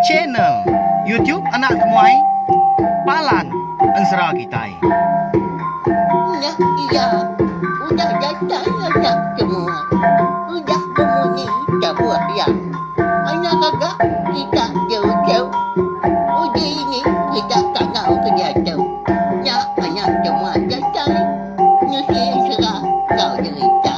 Channel YouTube Anak Temuai Palan Ensera Kitai. Udah iya, udah datai anak temuai, udah bemunyi tabuh iya. Anak gaga kita diuchau, uji ini kita tangau ke diatu. Nya anak temuai datai, nusi ensera enggau derita.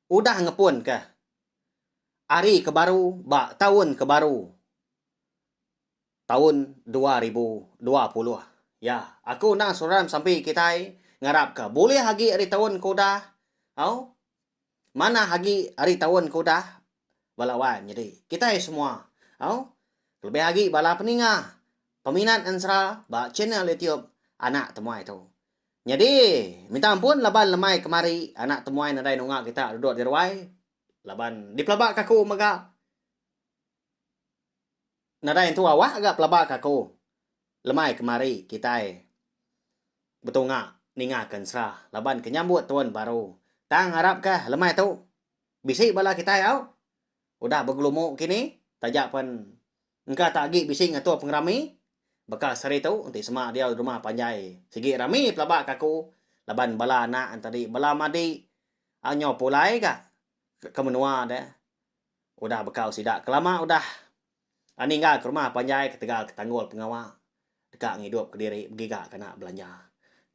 Udah ngepun kah Ari ke Baru ba Taun ke Baru taun dua ribu dua puluh. Ya, aku endang saudara sampi kitai ngarap ka bulih agi ari taun ke udah au manah agi ari taun ke udah bala wan nyadi kitai semua au kelebih agi bala peninga peminat ensera ba channel YouTube Anak Temuai tu. Nyadi, minta ampun laban lemai kemari anak temuai nadai nunga kita duduk di ruai laban dipelabaka aku mega nadai entu awak ga pelabaka aku lemai kemari kitai betunga ninga ke ensera laban ke nyambut tuan baru. Tang harapka lemai tu bisi bala kitai au udah begelumu kini taja pen Engka tak agi bisi ngatur pengerami baka sehari tu enti sema diau rumah panjai. Sigi rami pelaba ke aku laban bala anak entadi bala madi a nyau pulai ka ke menua deh udah bekau sida kelama udah a ninggal ke rumah panjai ketegal ke tanggul pengawa deka ngidup kediri begiga ke anak belanja.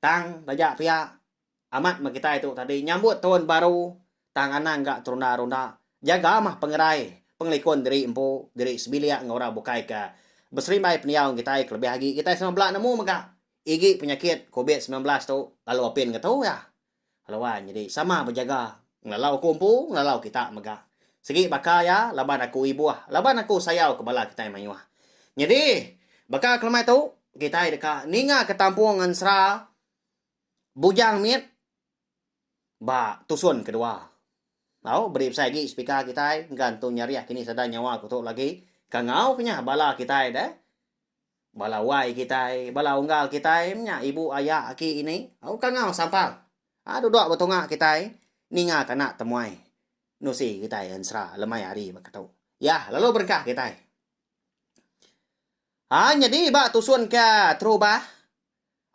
Tang taja pia. Amat meh kitai tu tadi nyambut taun baru tang anang ga terunda-runda jaga meh pengerai pengelikun diri empu diri sebilik enggau orang bukai ke beserimbai pendiau enggau kitai kelebih agi kitai sama bela nemu mega igi penyakit covid semilan belas tu lalu apin ngetu iya lalu wan nyadi sama bejaga ngelalau aku empu ngelalau kita mega sigi baka iya laban aku ibuh laban aku sayau ke bala kitai mayuh nyadi baka kelemai tu kitai deka ninga ke tampung ensera Bujang mit ba tusun kedua. Au beri besai agi speaker kitai enggan tu nyeriah kini sada nyawa ku tu lagi. Kangau ke nya bala kitai deh. Bala wai kitai, bala unggal kitai menya ibu aya aki ini. Au kangau sampal. Aa dudok betunga kitai ninga ke anak temuai nusi kitai ensera lemai hari baka tu. Yah lalu berengkah kitai. Aa nyadi ba tusun ke Terubah.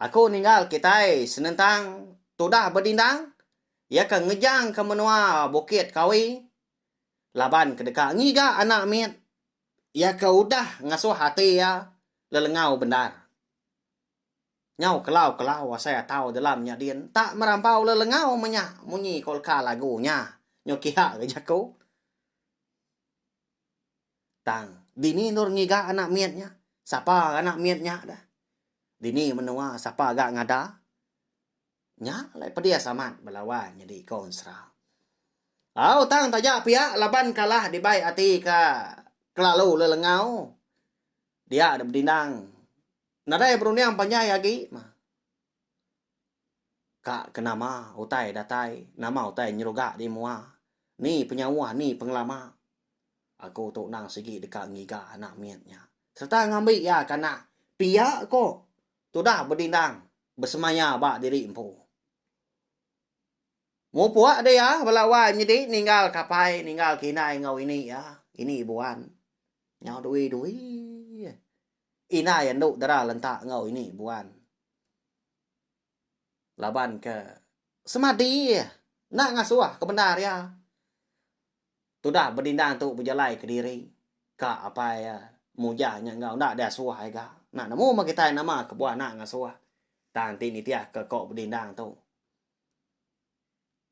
Aku ninggal kitai senentang tudah bedindang, iya ke ngejang ke menua Bukit Kawi laban ke deka ngiga anak mit iya ke udah ngasuh ati iya lelengau bendar. Nyau kelau-kelau asai atau delam nya din enta merampau lelengau menya munyi kolka lagu nya nyu kiha ke jaku. Tang, dini endur ngiga anak mit nya? Sapa anak mit nya da? Dini menua sapa ga ngada? Nya alai pedis amat bala wan nyadi konsra. Au tang taja pia laban kalah dibai ati ka kelalu lelengau. Dia da bedindang. Nadai berunding panjai agi mah. Ka ke nama utai datai, nama utai nyeruga di mua, ni penyauh ni pengelama. Aku tu nang sigi deka ngiga anak mit nya sereta ngambi iya ke anak pia ko tudah bedindang besemaya ba diri empu. Mupuk deh iya bala wai nyedi ninggal ke apai ninggal ke indai enggau ini iya, ini buan nyau dui-dui. Indai andu dara lenta enggau ini buan. Laban ke semadi enda ngasuh ke bendar iya. Tudah bedindang tu bejalai kediri ka apai iya muja nya enggau enda diasuh ai ga. Enda nemu meh kitai nama ke buan enda ngasuh tang ti nitihka ko bedindang tu.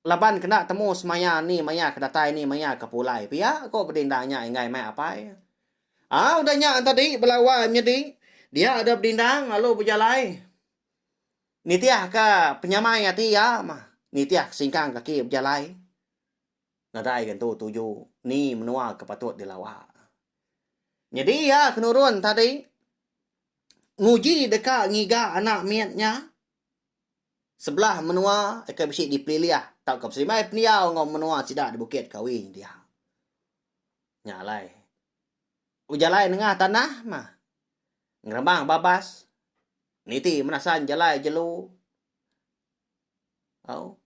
Laban ke enda temu semaya ni maya ke datai ni maya ke pulai pia, ko bedinda nya enggai mai apai. Au udah nya tadi bala wai menyedi dia deh bedindang lalu bejalai nitihka penyamai ati iya mah nitih ke singkang kaki bejalai nadai ke entu tuju ni menua ke patut dilawa. Nyadi iya ke nurun tadi nguji deka ngiga anak mit nya. Sebelah menua ke bisi dipelilih tauka beselimbai pendiau enggau menua sida di Bukit Kawi dia. Nya alai bejalai nengah tanah mah ngeremang babas niti menasan jalai jelu au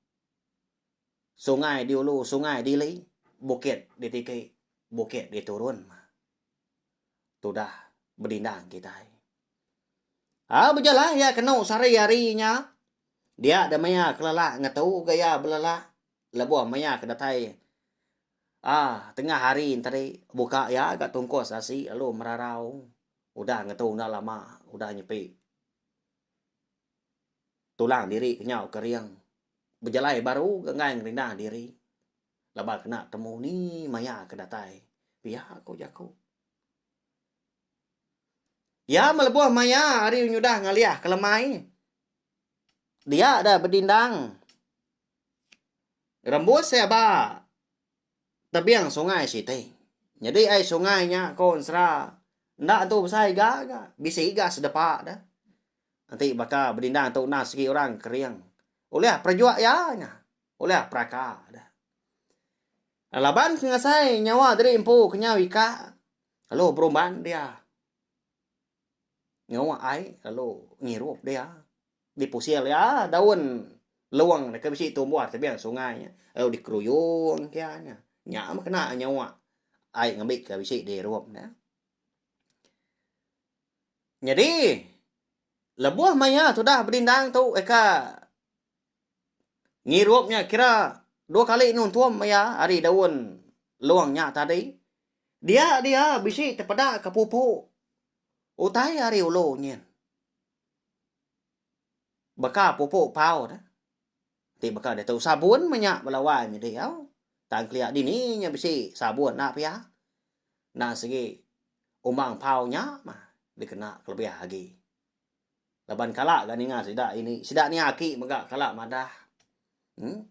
sungai diulu sungai diili bukit ditiki bukit diturun mah. tudah bedindang kitai. Au bejalai iya kenu sari hari nya. Dia deh maya kelelak ngetu ga iya belelak lebuh maya ke datai ah tengah hari tadi buka iya ga tungkus asi lalu merarau udah ngetu enda lama udah nyepi tulang diri kenyau kering bejalai baru ga enggai ngerindang diri. laban kena temu ni maya ke datai pia ku jaku Iya melebuh maya hari nyudah ngalih ke lemai. Dia dah bedindang. Rembus saya ba tebing sungai siti. Jadi ai sungai nya kon sera. Nda tu besai ga ga. Bisi ga sedepa dah. Nanti baka bedindang tu nah segi orang kering. Ulih perjuak ya nya. Ulah peraka deh. Laban ke ngasai nyawa diri empu kenyau ika lalu berumban dia. Ngawa ai lalu ngirup dia. Dipusil dia daun luang deka bisi tumbuh tebing sungai nya lalu dikeruyung kia nya. Nya meh kena nyawa ai ngambi ke bisi dirup ne. Nyadi lebuh maya tudah bedindang tu eka Ngirup nya kira dua kali nu entum maya ari daun long nya tadi. Dia dia bisi tepeda ke pupu utai ari ulu nyin. Baka pupu pau dah. Ti baka ditu sabun meh nya bala wai mih diau. Tang kelia dini nya bisi sabun enda pia. Endang sigi umbang pau nya mah dikena kelebih agi. Laban kala ga ninga sida ini, sida ni aki mega kala madah. Em.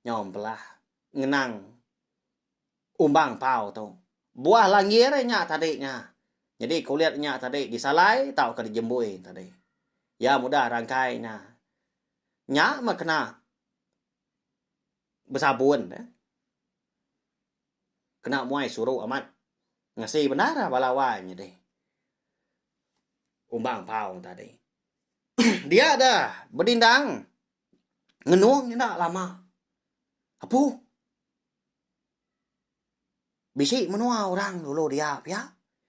Nyau empelah ngenang umbang pau tu. Buah langgir iya nya tadi nya. Nyadi kulit nya tadi disalai tauka dijembui tadi. Iya mudah rangkai nya. Nya meh kena besabun. Kena muai suru amat. Ngasi bendar ah bala wai nyadi umbang pau tadi. Dia da bedindang ngenung enda lama. Apu. Bisi menua orang dulu dia pia.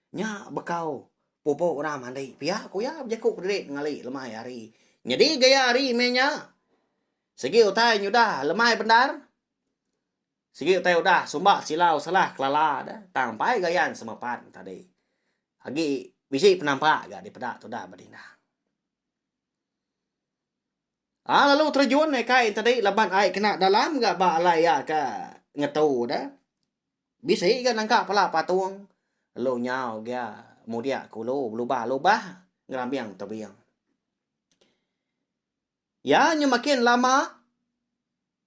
Nya bekau pupu orang mandi pia ku iya bejaku kediri ngali lemai hari. Nyadi gaya hari meh nya. Sigi utai nyudah lemai bendar. Sigi utai udah sumba silau salah kelala da tang pai gayan sama pan tadi. Agi bisi penampak ga dipeda tudah bedindang. A lalu terjun ikai entadi laban ai kena dalam ga ba alai iya ka ngetu da. Bisi ga nangka pala patung lalu nyau gia mudia kulu belubah lubah ngerambing tebing. Iya nya makin lama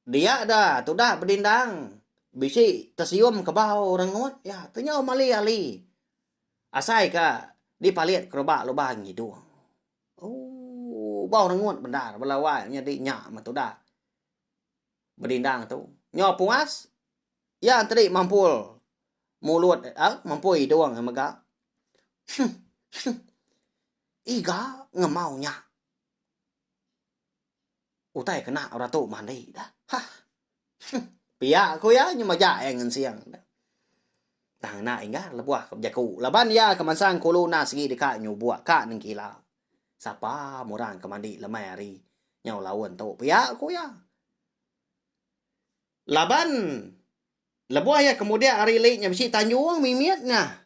dia da tudah bedindang bisi tesium kebau rengut iya tu nyau mali ali asai ka dipalit keruba lubang ngidung. Ooh bau rengut bendar bala wai nyadi nya meh tudah bedindang tu nyau puas iya enteri mampul mulut aaa mampul idung iya mega. Heh heh iga ngemau nya. Utai kena orang tu mandi dah. Ha. Huh. Pia ku iya nyema ja iya ngensing. Tang enda inggar lebuh ke bejaku laban iya ke mansang kulu enda sigi deka nyubuk ka nengkila. Sapa meh orang ke mandi lemai hari nyau laun tu pia ku iya. Laban lebuh iya kemudak ari li nya bisi tanjung mimit nya.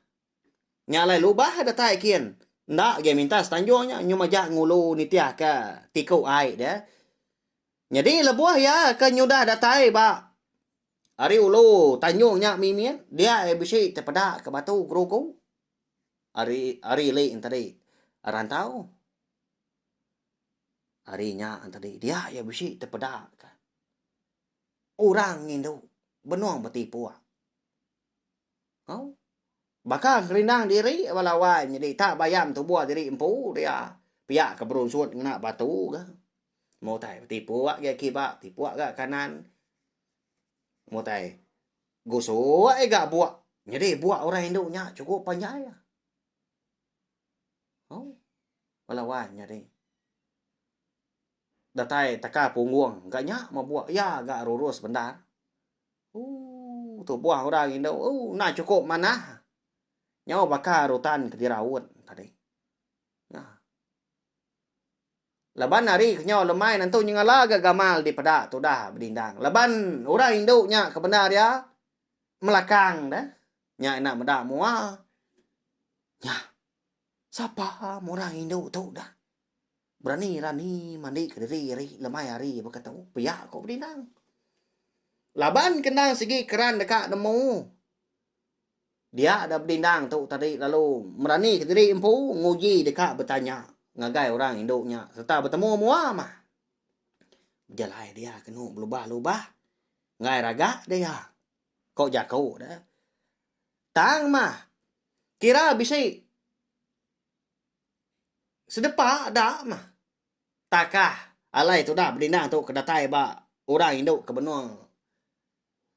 Nya alai lubah datai kin enda agi minta setanjung nya nyu majak ngulu nitihka tiku ai dia. Nyadi lebuh iya ke nyudah datai ba ari ulu tanjung nya mimit dia iya bisi tepeda ka batu guru ku ari ari li tadi rantau ari nya tadi dia iya bisi tepeda ka orang ngindu benung betipu. Au. Baka gerindang diri bala wai nyadi tak bayam tubuh diri empu dia. Pia ke berunsut ngena batu ga. Mutai betipu agi kiba, tipu ga kanan. Mutai gusu ai ga buak. Nyadi buak orang indu nya cukup panjai. Au. Bala wai nyadi. Datai taka punggung ga nya mah buak iya ga rurus bendar. Ooh, tubuh orang indu ooh, enda chukup manah. Nyau baka rutan ke diraut tadi. Nah. Laban hari ke nyau lemai nentu nyengala ga gamal dipeda tudah bedindang. Laban orang indu nya ke bendar iya melakang deh. Nya enda meda mua. Nyah. Sapa orang indu tu dah. Berani rani mandi ke diri ari lemai hari baka tu pia ko bedinang. Laban ke endang sigi keran deka nemu. Dia da bedinang tu tadi lalu merani ke diri empu nguji deka betanya ngagai orang indu nya serta betemu mua mah. Bejalai dia kenu belubah-lubah ngai raga dia. Ko jaku dia. Tang mah kira bisi. Sedepa da mah. Takah alai tudah bedindang tu ke datai ba orang indu ke benung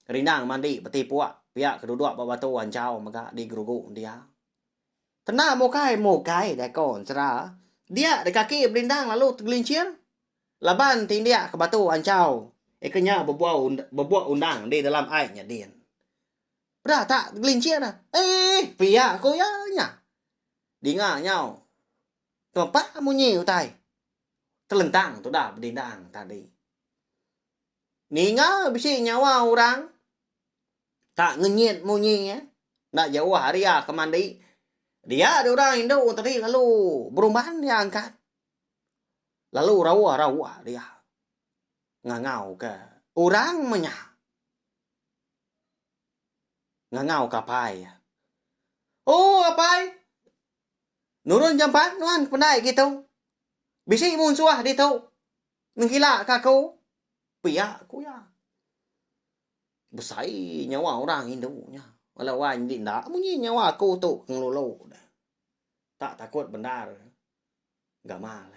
rindang mandi betipuk pia ke duduk ba batu anjau mega di gerugu dia. Kena mukai mukai deh ko ensera. Dia deh kaki bedindang lalu tegelincir laban ti indik ke batu anjau ika nya bebuau bebuak undang di dalam ai nyadin. Peda tak tegelincir eh pia ko iya nya. Dinga nyau tempa munyi utai telentang tudah bedindang tadi. Ninga bisi nyawa orang tak ngenyit munyi ya. Enda jauh hari ya ke mandi. Dia ada orang indu tadi lalu berumban dia angkat. Lalu rawa-rawa dia. Ngangau ke orang menya. ngangau ka apai iya. Oh apai. Nurun jampat nuan kependai gitu. Bisi munsuh ditu nengkila ka aku. Pia ku iya. Besai nyawa orang indu nya. Bala wai nyadi enda munyi nyawa aku tu ke ngelulu. Tak takut bendar gamal.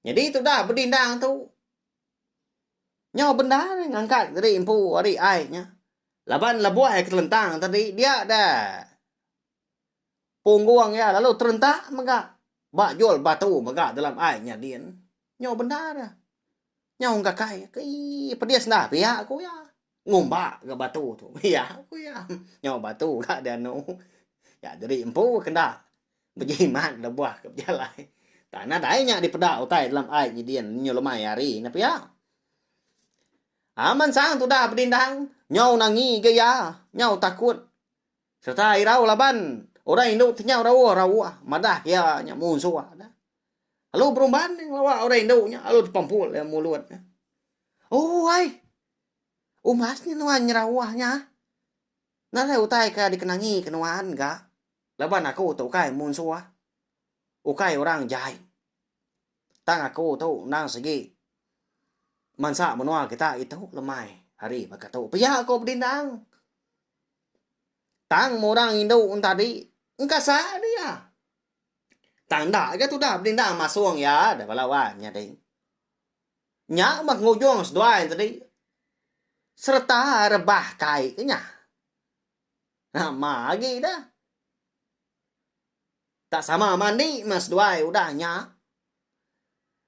Nyadi tudah bedindang tu. Nyau bendar ngangkat diri empu ari ai nya. Laban lebuh ke telentang tadi dia da punggung iya lalu terentak mega ba jol batu mega dalam ai nya din. Nyau bendar. Nyau engka kai. Kei, pedis enda pia, ku iya. Ngumba ga batu tu. Iya, ku iya. Nyau batu ga dianu. Nya jadi empu ke enda bejimat lebuh ke bejalai. Tang nadai nya dipeda utai dalam ai nyidin nyu lemai hari nya pia. Aman sang tudah bedindang, nyau nangi ga iya. Nyau takut sereta irau laban orang indu ti nyau rauh-rauh madah iya nya munsuh. Lalu berumban nya ngelawa orang indu nya lalu dipampul iya mulut nya. Oh ai. Umas nya nuan nyerawah nya. Ngagai utai ke dikenangi ke nuan ga. Laban aku tu ukai munsuh. Ukai orang jai. Tang aku tu endang sigi mansa menua kita itu lemai hari baka tu. Pia ko bedindang. Tang murang indu ntadi engkasa dia. Tang enda ga tudah bedindang masung iya deh bala wan nyadi. Nya meh ngujung seduai tadi sereta rebah kai ke nya. Nama agi dah. Tak sama mandi meh seduai udah nya.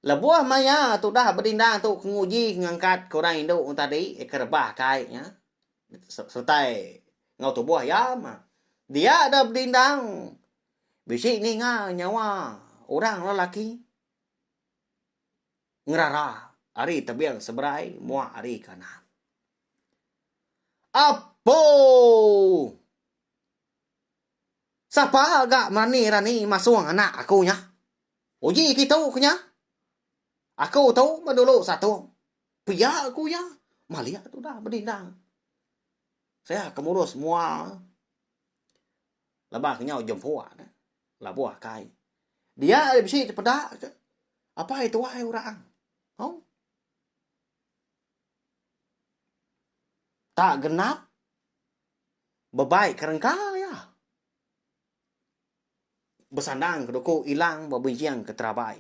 Lebuh maya tudah bedindang tu ke nguji ke ngangkat ke orang indu orang tadi ke rebah kai nya sertai enggau tubuh iya mah dia da bedindang bisi ninga nyawa orang lelaki ngerara ari tebing seberai muak ari kanan. Apouu. Sapa ga merani-rani masung anak aku nya? Uji kitu ku nya. Aku tu ba dulu satuk. Pia ku iya malik tudah bedindang. Saya ke murus mua lebuh ke nyau jempuk ne labuh kai. Dia ari bisi tepeda ke apai tuai orang. Au. Tak genap. Bebai ke rengka iya. Besandang ke duku ilang ba benjing ke terabai.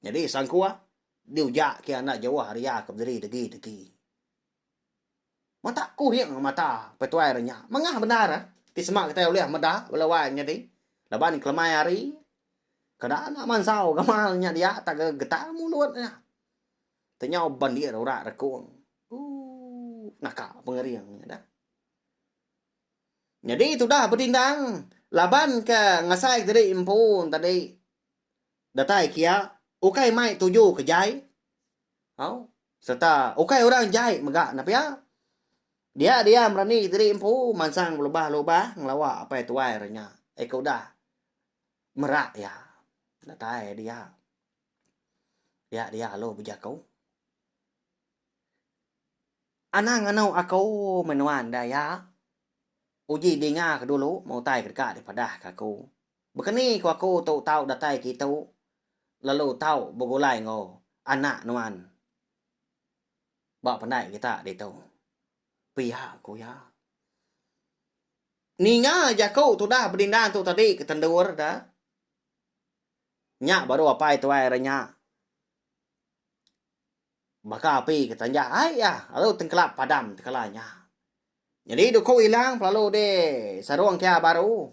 Nyadi sangkuah diuja ke anda jauh ari iya ke bediri degi-degi. Matak kuhing mata pe tuai re nya. Mengah bendar ti sema kitai ulih meda bala wai nyadi laban kelemai hari kada enda mansau gamal nya dia taga getang mulut nya. Tenyau bandir ura rekung. Ooh, naka pengering nya dah. Nyadi tudah bedindang laban ke ngasai ke tadi empu tadi datai kia ukai mai tuju ke jai au serta ukai orang jai mega ne pia. Dia diam rani ke tadi empu mansang belubah-lubah ngelawa apai tuai re nya. Eka udah merak iya datai dia. Dia dia alu bejaku. Anang anu aku menua enda iya. Uji dinga ke dulu meh utai ke deka dipadah ke aku. Bekeni ku aku tu tau datai ke itu lalu tau begulai enggau anak nuan ba pandai kita ditu. Pia ku iya. Ninga jaku tudah bedindang tu tadi ke tendur da. Nya baru apai tuai ari nya. Baka api ke tanjah ai iya lalu tengkelap padam tekala nya. Nyadi duku ilang pelalu di sarung ke iya baru.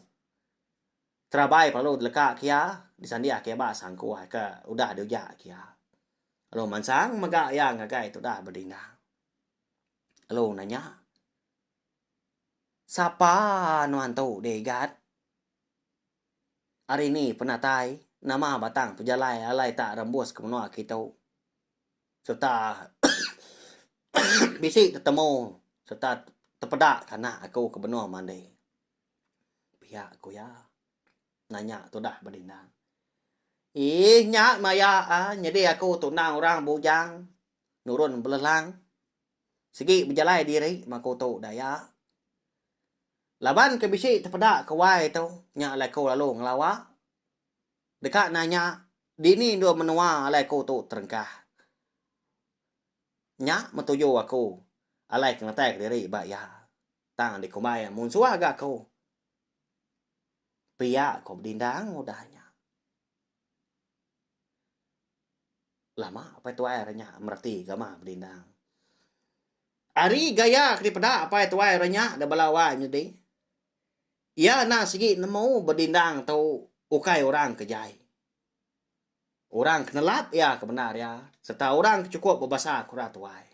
Terabai pelalu deleka ke iya disandia ke ba sangkuai ke udah diuja ke iya. Lalu mansang mega iya ngagai tudah bedingang. Lalu nanya, Sapa nuan tu, Dei Gat? Ari ni penatai nama batang pejalai alai tak rembus ke menua kitu serta bisi tetemu serta tepeda ke anak aku ke benung mandi pia ku iya nanya tudah ba dindang iih nya maya a nyadi aku tu endang orang bujang nurun belelang sigi bejalai diri mah aku tu da iya. Laban ke bisi tepeda ke wai tu nya alai ku lalu ngelawa deka nanya dini endur menua alai ku tu terengkah. Nya metuju aku alai ke ngetai ke diri ba iya tang dikumbai iya munsuh ga aku pia ku bedindang udah nya. Lama apai tuai orang nya mereti gamah bedindang. Ari gaya ke dipeda apai tuai orang nya da bala wai nyadi, iya anang sigi nemu bedindang tu ukai orang ke jai. Orang ke nelap iya ke bendar iya sereta orang ke chukup bebasa kura tuai.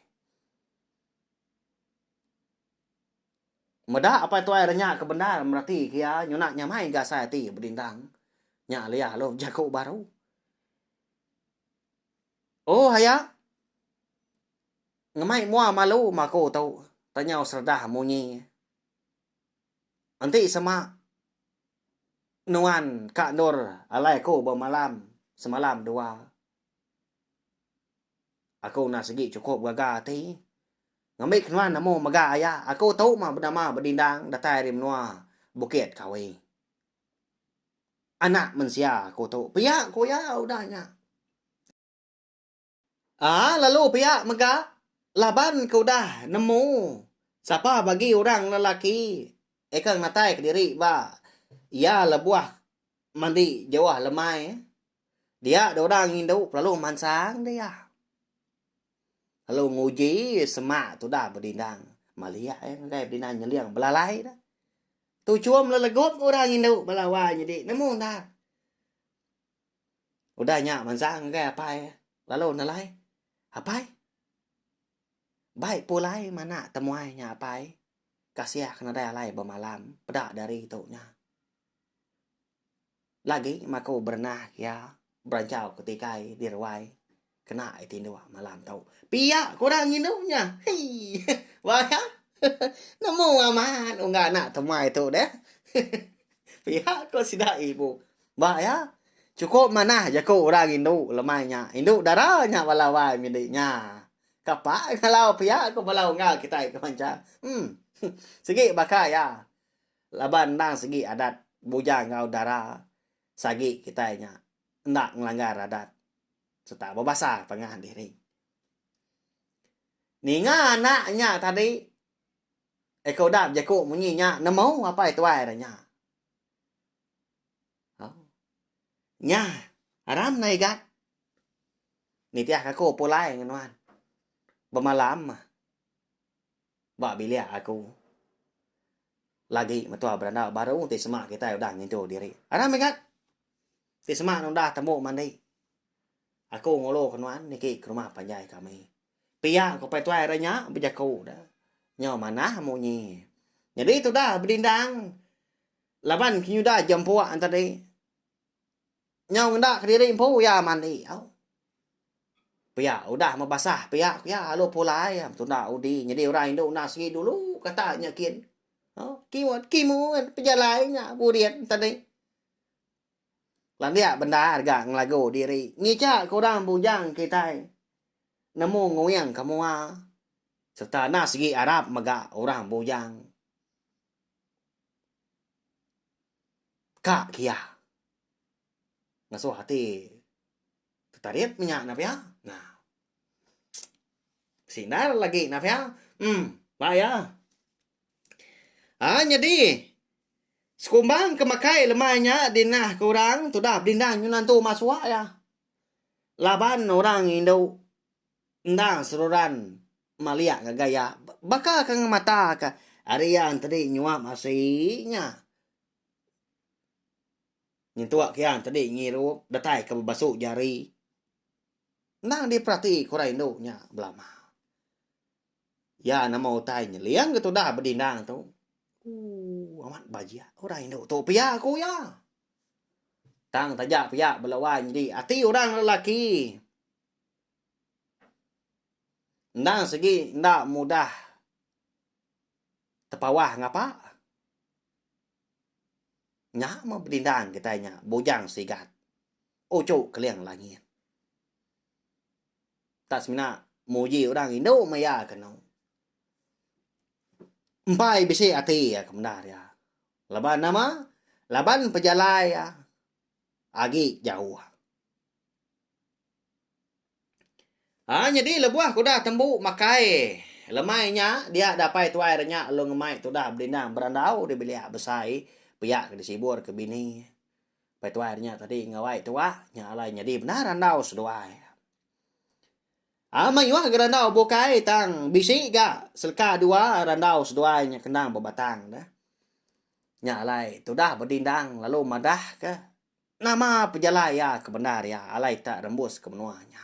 Meda Apai Tuai renya ke bendar merati ke iya nyuna nyamai ga asai ati bedindang. Nya alih alu bejaku baru. Oh aya. Ngemai mua malu ma aku tu, tanyau Serdah munyi. Enti sema nuan ka endur alai aku bemalam semalam dua. Aku enda sigi chukup gaga ati. Ngambi ke nuan amu mega aya, aku tu mah benama bedindang datai ari menua Bukit Kawi. Anak mensia aku tu pia ku iya udah nya. Aa lalu pia mega laban ke udah nemu sapa bagi orang lelaki eka ngenatai ke diri ba iya lebuh mandi jauh lemai. Dia dua orang indu lalu mansang dia. Lalu nguji semak tu dah bedindang. Maliak eh ngagai bedindang nyeling belalai dah. Tu chum lelegup orang indu belawa nyedi nemu dah. Udah nya mansang ngagai apai eh. Lalu nelai. Apai. Bai pulai mana temuai nya apai. Kasiah ke nadai alai bemalam. Peda dari tu nya. Lagi mak aku berenah ke iya beranchau ke tikai di ruai kena iya tinduk malam tu. Pia ke orang ngindu nya. Hei. Wayah. Nemu amat ungga anak temai tu deh. Pia ko sida ibu. Ba iya chukup manah jaku orang ngindu lemai nya. Indu dara nya bala wai mindi nya. Kapa ngalau pia ko bala ungga kitai ke mancha. Em. Sigi baka iya. Laban endang segi adat bujang enggau dara sagi kitai nya enda ngelanggar adat sereta bebasa pangan diri. Ninga anak nya tadi eko udah bejaku munyi nya nemu apai tuai re nya. Au. Nya aram nai gat. Nitih aku pulai ngenuan. Bemalam. Ba bilik aku lagi metua beranda baru ti sema kitai udah ngintu diri. Aram mega ti sema ne udah tembu mandi. Aku ngulu ke nuan niki ke rumah panjai kami. Pia ku Pai Tuai hari nya bejaku ne. Nyau manah munyi. Nyadi tudah bedindang laban ke nyudah jempuk tadi. Nyau ngeda kediri empu iya mandi au. Pia udah mebasah pia ku iya lalu pulai iya betunda udi nyadi orang indu enda segi dulu kata nya kin. Au kimet kimet pejalai nya burin enti ni. Landik bendar ga ngelagu diri ngija ke orang bujang kitai nemu nguing ke mua sereta enda segi arap mega orang bujang. Ka kia. Ngasuh ati tetarit menya nah pia. Nah. Sindar lagi nah pia. Em. Ba iya. Haa nyadi. Sekumbang ke makai lemai nya di nah ke orang tudah bedindang nyuan antu masua iya. Laban orang indu endang seruran. maliak ngagai iya baka ke ngemata ke ari iya tadi nyuap asi nya nyentuk ke iya tadi ngirup datai ke bebasu jari endang diperati ke orang indu nya belama iya nama utai nyeling ke tudah bedindang tu ooh amat bajiak orang indu tu pia ku iya tang taja pia bala wai nyadi ati orang lelaki. Endang segi enda mudah tepawah ngapa. Nya meh bedindang kitai nya Bujang Sigat, Uchu Keling Langit. Enda semina muji orang indu meh iya ke enu. Empai bisi ati iya ke menda nya. Laban nama? Laban pejalai iya agi jauh. Ha nyadi lebuh ke udah tembu makai lemai nya dia dapai tuai re nya lalu ngemai tudah bedindang berandau di bilik besai pia ke disibur ke bini pai tuai re nya tadi ngawai tuwa nya alai nyadi bendar andau seduai. Ha mayuh ga randau bukai tang bisi ga seleka dua randau seduai nya kendang bebatang deh. Nya alai tudah bedindang lalu madah ke Nama pejalai iya ke bendar iya alai tak rembus ke menua nya?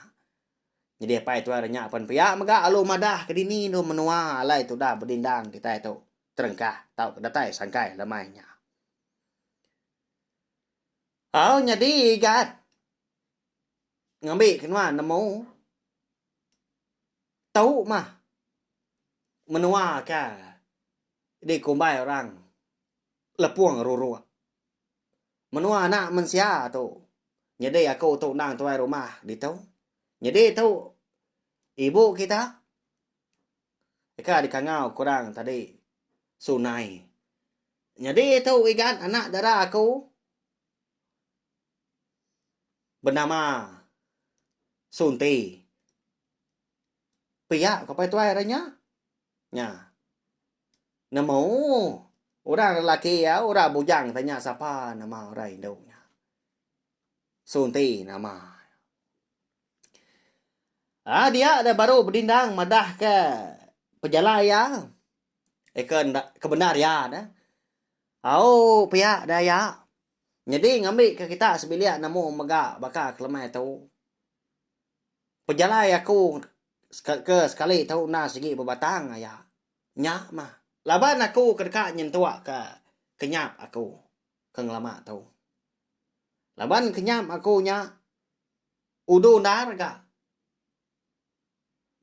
Nyadi apai tuai re nya pen pia mega alu madah ke dini endur menua alai tudah bedindang kitai tu terengkah tauka datai sangkai lemai nya. Au nyadi igat ngambi ke nuan nemu tu mah menua ke dikumbai orang Lepung ruruk. Menua anak mensia tu nyedi aku tu endang tuai rumah ditu. Nyedi tu ibu kita deka dikangau ke orang tadi sunai. Nyedi tu igan anak dara aku benama Sunti. Pia ko pai tuai re nya. Nya. Nemu orang lelaki iya orang bujang tanya sapa nama orang indu nya. Sunti nama. Ah dia dah baru bedindang madah ke pejalai iya. Eka eh, ndak ke bendar iya dah. Au pia dah iya. Nyadi ngambi ke kita sebilik nemu mega baka kelemai tu. Pejalai aku ke sekali tu enda sigi bebatang aya. Nya mah. Laban aku ke deka nyentuk ke kenyap aku ke ngelama tu. Laban kenyap aku nya udu endar ga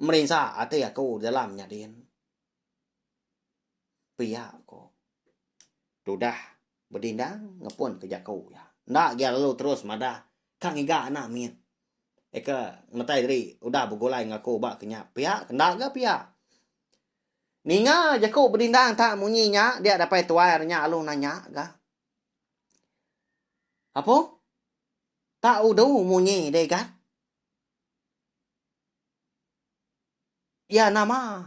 merinsa ati aku dalam nyadin. Pia ko. Tudah. Bedindang ngepunka jaku iya. Enda gia lalu terus madah ka ngiga anak mit. Eka ngemetai diri udah begulai enggau aku ba kenyap pia ke enda ga pia. Ninga jaku Bedindang tak munyi nya dia dapai tuai ari nya alu nanya ga. Apo? Tak udu munyi deh ga? Iya nama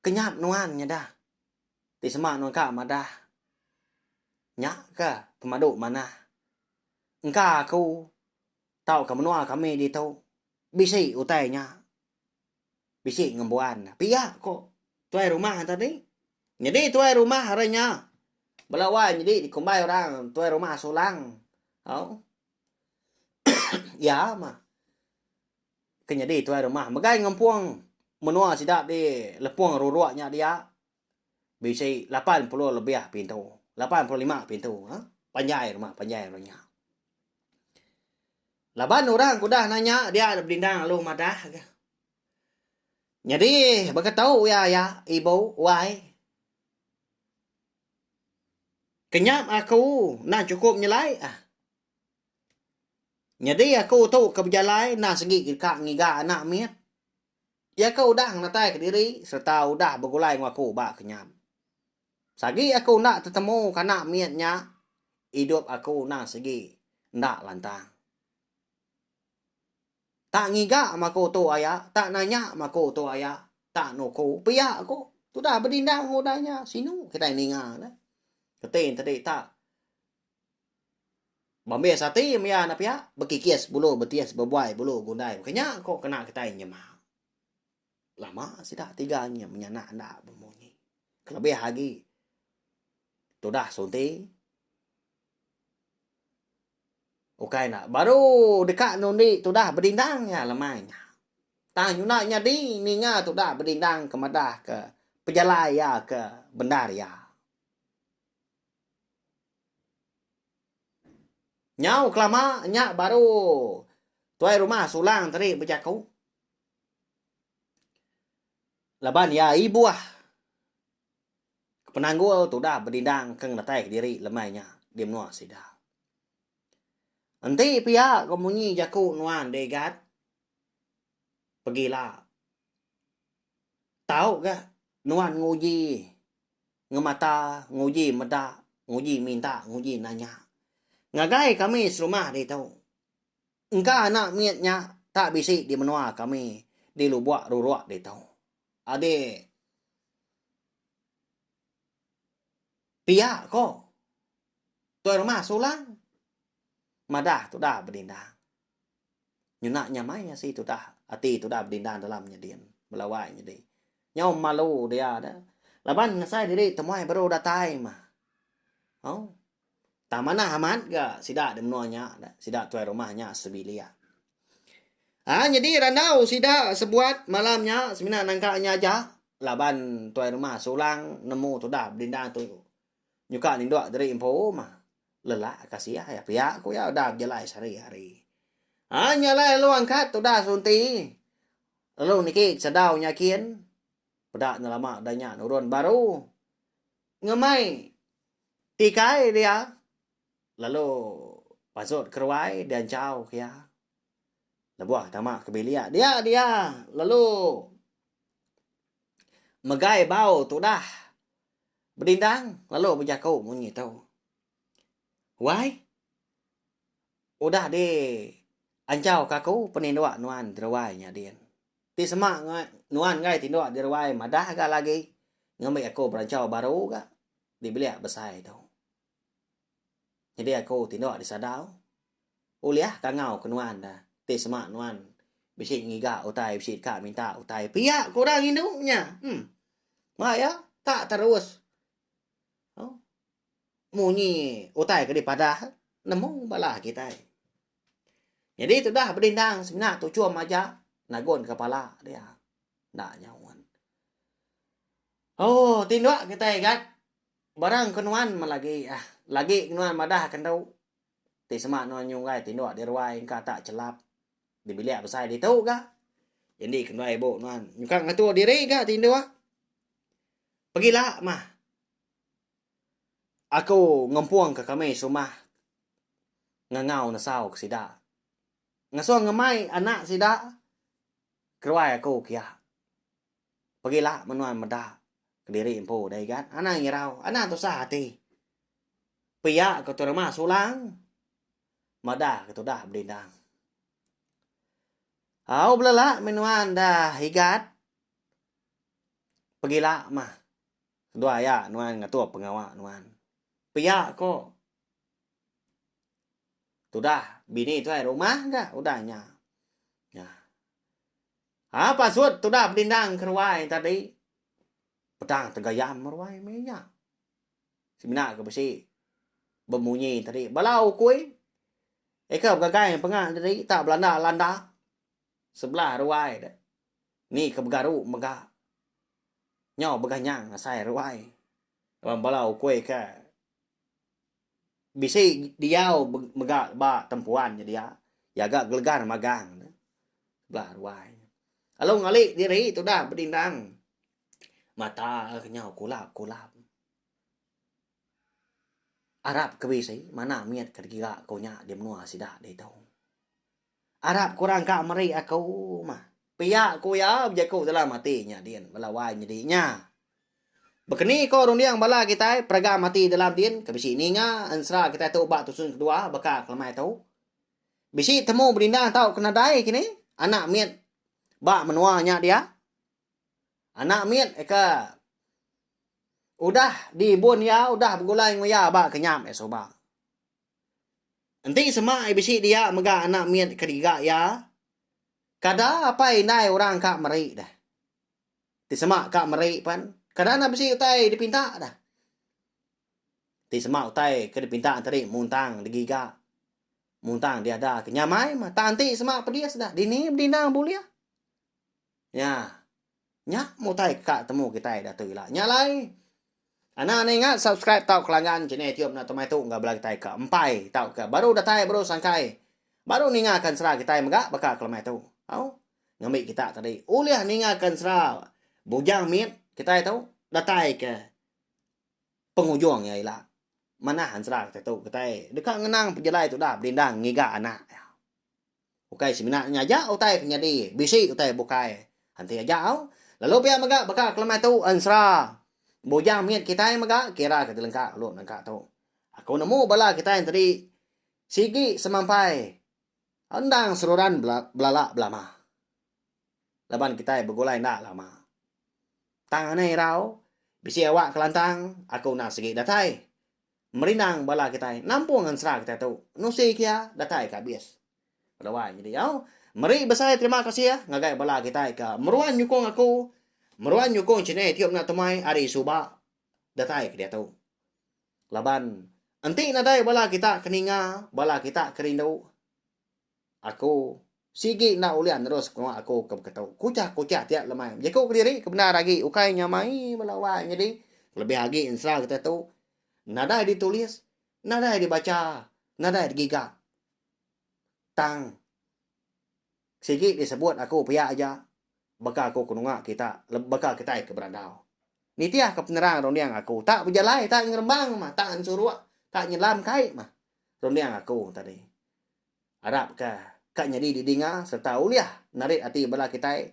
kenyap nuan nyada. Ti sema nuan ka madah. Nya ke pemadu manah. Engka aku tauka menua kami ditu bisi utai nya. Bisi ngembuan pia ko tuai rumah tadi. Nyadi tuai rumah ari nya bala wai nyadi dikumbai orang tuai rumah sulang. Au. Iya mah. Ke nyadi tuai rumah megai ngempung menua sida di lepung ruruk nya dia bisi lapan puluh lebih pintu, lapan puluh lima pintu ha panjai rumah panjai orang nya. Laban orang ke udah nanya dia enda bedindang lalu madah ke. Nyadi baka tu iya aya ibu wai. Kenyap aku enda chukup nyelai ah. Nyadi aku tu ke bejalai enda segi ke deka ngiga anak mit. Iya ke udah ngenatai kediri sereta udah begulai enggau aku ba kenyam. Sagi aku enda tetemu ke anak mit nya, idup aku enda segi enda lantang. Tak ngiga mah aku tu aya, tak nanya mah aku tu aya, tak nuku pia ku. Tudah bedindang enggau udah nya, sinu kitai ninga ne. Reti tadi tak Bambis ati maya enda piak, bekikis bulu betis bebuai bulu gundai mega nya ko kena kitai nyema. Lama sida tiga nyem menya anak enda bemunyi. Kelebih agi tudah sunti ukai ne baru deka nundi tudah bedindang iya lemai nya. Tang nyuda nyadi ninga tudah bedindang ke madahka pejalai iya ke bendar iya. Nyau kelama nya baru tuai rumah Sulang tadi bejaku. Laban iya ibuh ke penanggul tu udah bedindang ke ngeretai kediri lemai nya di menua sida. Enti pia ko munyi jaku nuan Degat pegi ila. Tau ga nuan nguji ngemata, nguji meda, nguji minta, nguji nanya. Ngagai kami serumah ditu, engka anak mit nya tak bisi di menua kami di Lubok Rurok ditu. Adi pia ko Tuai Rumah Sulang madah tudah bedindang. Nyena nyamai asi tudah ati tudah bedinda dalam nyedin belawai nyadi. Nyau malu dia da. Laban ngasai diri temuai baru datai mah. Au. Tang manah amat ga sida di menua nya da. Sida tuai rumah nya sebilik. Ha nyadi randau sida sebuat malam nya semina nangka nya aja laban tuai rumah sulang nemu tudah bedinda tu. nyuka nindok diri empu mah lelak ka sia iya pia ku iya udah bejalai sehari hari. Ai nya alai lalu angkat udah sunti lalu niki sedau nyakin peda enda lama udah nya nurun baru ngemai tikai dia lalu pasut keruai dianchau ke iya lebuh tama ke bilik dia dia lalu megai bau tudah Bedindang lalu bejaku munyi tu. Wai, udah di anchau ka aku peninduk nuan di ruai nya din. Ti sema nuan enggai tinduk di ruai madah ga lagi ngambi aku beranchau baru ga di bilik besai tu. Nyadi aku ti enda disadau ulih ka ngau ke nuan da ti sema nuan bisi ngiga utai bisi ka minta utai pia ku orang indu nya em ba iya ka terus au munyi utai ke dipadah nemu bala kitai. Nyadi tudah bedindang semina tu chum aja nagun kepala dia enda nyau un. Ooh ti enda kitai gat. Bara engku nuan melagi ah. Lagi ke nuan madah ke endu. Ti sema nuan nyunggai tinduk di ruai engka tak chelap di bilik besai ditu ga. Indi ke ndai ibu nuan nyukang ngatur diri ga tinduk. Pegila mah. Aku ngempung ke kami serumah ngangau nesau ke sida. Ngasung ngemai anak sida ke ruai aku kia. Pegila menuan meda kediri empu udah igat, anang ngirau, anang tusah ati. Pia ke Tuan Rumah Sulang meda ke tudah bedindang. Au belela menuan dah igat, pegila mah dua aya nuan ngatur pengawa nuan. Pia ko tudah bini tuai rumah ga udah nya. Nya. Haa pasut tuda bedindang ke ruai tadi peda tegayam ruai meh nya semina ke besi bemunyi tadi bala ukui eka begagai penga tadi tak belanda landa sebelah ruai de ni ke begaru mega nyau beganyang asai ruai laban bala ukui ke. bisi diau mega ba tempuan nyedia jaga gelegar magang ne bala ruai. Lalu ngali diri tudah bedindang mata lalu nyau kulap kulap arap ke bisi mana mit ke digira ku nya di menua sida ditu. Arap korang ka meri aku mah. Pia ku iya bejaku dalam ati nya din bala wai nyadi nya. Bekeni ko runding bala kitai peragam ati dalam din ke bisi ninga ensera kitai tu ba tusun kedua baka kelemai tu. Bisi temu bedindang tauka nadai kini anak mit ba menua nya dia. Anak mit ke udah di bun iya udah begulai enggau iya ba kenyap iya suba. Enti sema iya bisi dia mega anak mit ke diga iya, kada apai indai orang ka meri deh. Ti sema ka meri pen, kada anak bisi utai dipinta deh. Ti sema utai ke dipinta tadi muntang digiga, muntang diada ke nyamai meh. Tang ti sema pedis deh, dini bedindang bulih. Nya. Nya mutai ka temu kitai datu ila nya alai. Ana anak ingat subscribe tau kelanggan channel tiup na tumai tu enggau bela kitai ka empai tau ka baru datai baru sangkai. Baru ninga kan sera kitai mega baka kelemai tu. Au. Ngambi kita tadi ulih ninga kan sera bujang mit kitai tu datai ka pengujung ya ila. Manah ansra kita tu kitai deka ngenang pejalai tu dah belindang ngiga anak. Ukai semina nya aja utai ke nyadi, bisi utai bukai enti aja au. Lalu pia mega baka kelemai tu ensera bujang mit kitai mega kira ke dilengka kelu nengka tu. Aku nemu bala kitai entadi sigi semampai endang seruran belala belama laban kitai begulai enda lama. Tang anai irau bisi awak kelantang aku enda sigi datai. Merindang bala kitai nampung ensera kitai tu nusi kia datai ke abis. Keduai nyadi au, meri besai terima kasih ngagai bala kitai ke meruan nyukung aku, meruan nyukung channel Tiup Enda Temai ari suba datai ke diatu. Laban enti nadai bala kita ke ninga, bala kita ke rindu, Aku sigi enda ulih nerus pengawa aku ke beketu. Kuchah kuchah tiap lemai bejaku kediri ke bendar agi ukai nyamai bala wai nyadi kelebih agi ensera kita tu nadai ditulis, nadai dibacha, nadai digiga. Tang sigi disebut aku pia aja baka aku kenunga kita baka kitai ke berandau. Nitih ke penerang runding aku tak bejalai tak ngerembang mah tak ensuruk tak nyelam kai mah runding aku tadi. Arap ka ka nyadi didinga sereta ulih narit ati bala kitai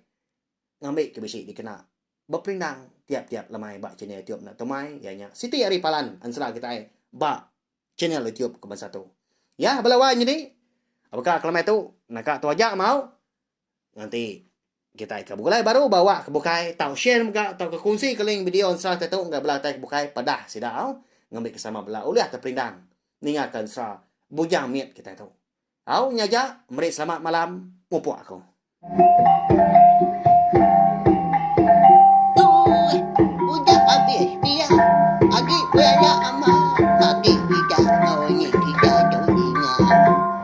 ngambi ke bisi dikena beperindang tiap-tiap lemai ba channel YouTube enda Tumai iya nya siti ari palan ensera kitai ba channel YouTube ke bansa tu. Ya bala wai nyadi baka ke lemai tu naka tu aja mau Ngan ti, kitai ke begulai baru ba wak ke bukai tau share mega tauka kungsi ke link video ensera kitai tu ngagai bala kitai ke bukai padah sida au ngambika sama bala ulih ke perindang ningaka ensera Bujang Mit kitai tu. Au nya aja, meri selamat malam mupuk aku.